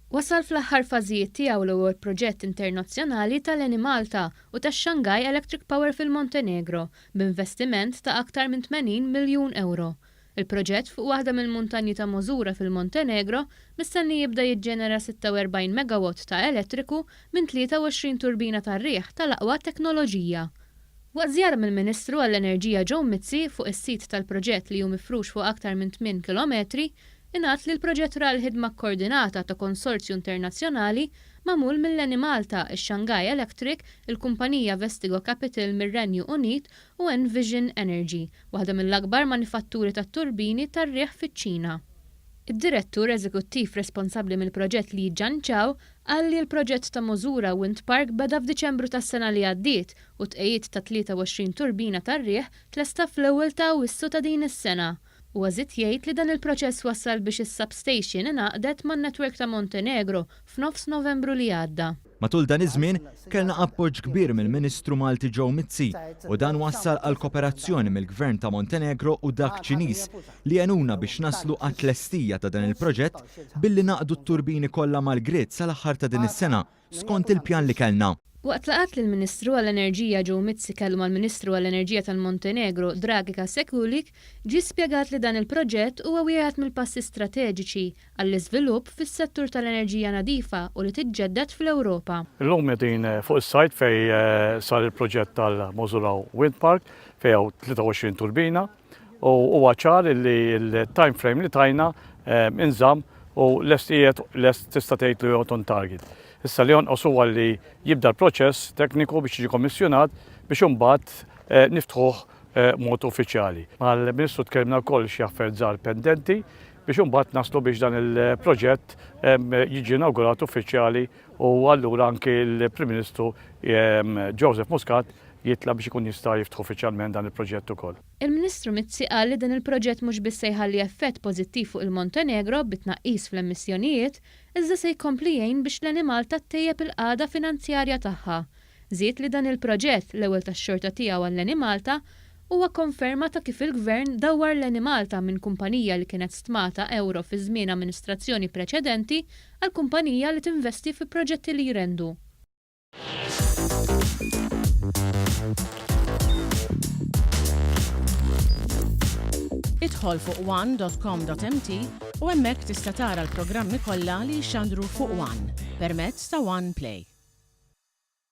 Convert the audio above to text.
Wasal fl-aħħar fażijiet tiegħu l-ewwel proġett internazzjonali tal-Enemalta u tax-Shanghai Electric Power fil-Montenegro, b'investiment ta' aktar minn 80 miljun ewro. Il-proġett fuq waħda mill-muntanji ta' Mosura fil-Montenegro mistenni jibda jiġġenera 46 megawatt ta' elettriku minn 23 turbina tar-riħ tal-aqwa teknoloġija. Waqt żjara mill-Ministru għall-Enerġija Joe Mizzi fuq is-sit tal-proġett li hu mifrux fuq aktar minn tmien kilometri, ingħad li l-proġett ra l-ħidma kkoordinata ta' konsorzju internazzjonali magħmul mill-Enemalta, ix-Shanghai Electric, il-kumpanija Vestigo Capital mir-Renju Unit u Envision Energy, waħda mill-akbar manifatturi tat-turbini tar-riħ fiċ-Ċina. Id-Direttur Eżekuttiv responsabbli mill-proġett Li Jianchao Qal li l-proġett ta' Mozura Wind Park beda f'Diċembru tas-sena li għaddiet u t-tqegħid ta' 23 turbina tar-riħ tlesta fl-ewwel ta' Awwissu ta' din is-sena. Huwa żied jgħid li dan il-proċess wassal biex is-substation ingħaqdet man-network ta' Montenegro f'nofs Novembru li għadda. Matul dan iż-żmien, kellna appoġġ kbir mill-Ministru Malti Joe Mizzi u dan wassal għall-koperazzjoni mill-Gvern ta' Montenegro u dak Ċiniż li għenuna biex naslu għat-tlestija ta' dan il-proġett billi naqdu t-turbini kollha mal-grid sal-aħħar ta' din is-sena skont il-pjan li kellna. Waqt laqgħat li l-Ministru għall-Enerġija Joe Mizzi kellu mal-Ministru għall-Enerġija tal-Montenegro Dragica Sekulic ġie spjegat li dan il-proġett huwa wieħed mill-passi strateġiċi għall-iżvilupp fis-settur tal-enerġija nadifa u li tiġġedded fl-Ewropa. Illum qegħdin fuq is-site fejn sar il-proġett tal-Mozulaw Wind Park fejn hawn 23 turbina. u huwa ċar li l-time frame li tajna inżamm u lest qiegħed lest tista' tgħid li jgħod on target. Issa li jonqos huwa li jibda l-proċess tekniku biex jiġi kommissjonat biex imbagħad eh, niftħuh eh, mod uffiċjali. Mal-Ministru tkellimna wkoll xi affarijiet żgħar pendenti biex imbagħad naslu biex dan il-proġett eh, jiġi inawgurat uffiċjali u allura anki l-Prim Ministru Joseph Muscat jitlab biex ikun jista' jiftħu uffiċjalment dan il-proġett ukoll. Il-Ministru Mizzi qal li dan il-proġett mhux biss se jħalli effett pożittiv fuq il-Montenegro bit-tnaqqis fl-emissjonijiet, iżda se jkompli jgħin biex l-Enemalta ttejjeb il-qagħda finanzjarja tagħha Żied li dan il-proġett, l-ewwel tax-xorta tiegħu għall-Enemalta, huwa konferma ta' kif il-Gvern dawwar l-Enemalta minn kumpanija li kienet stmata ewro fi żmien amministrazzjoni preċedenti għal kumpanija li tinvesti fi proġetti li jrendu. Idħol fuq one dot com dot mt u hemmhekk tista' tara l-programmi kollha li jixxandru fuq one permezz ta' one play.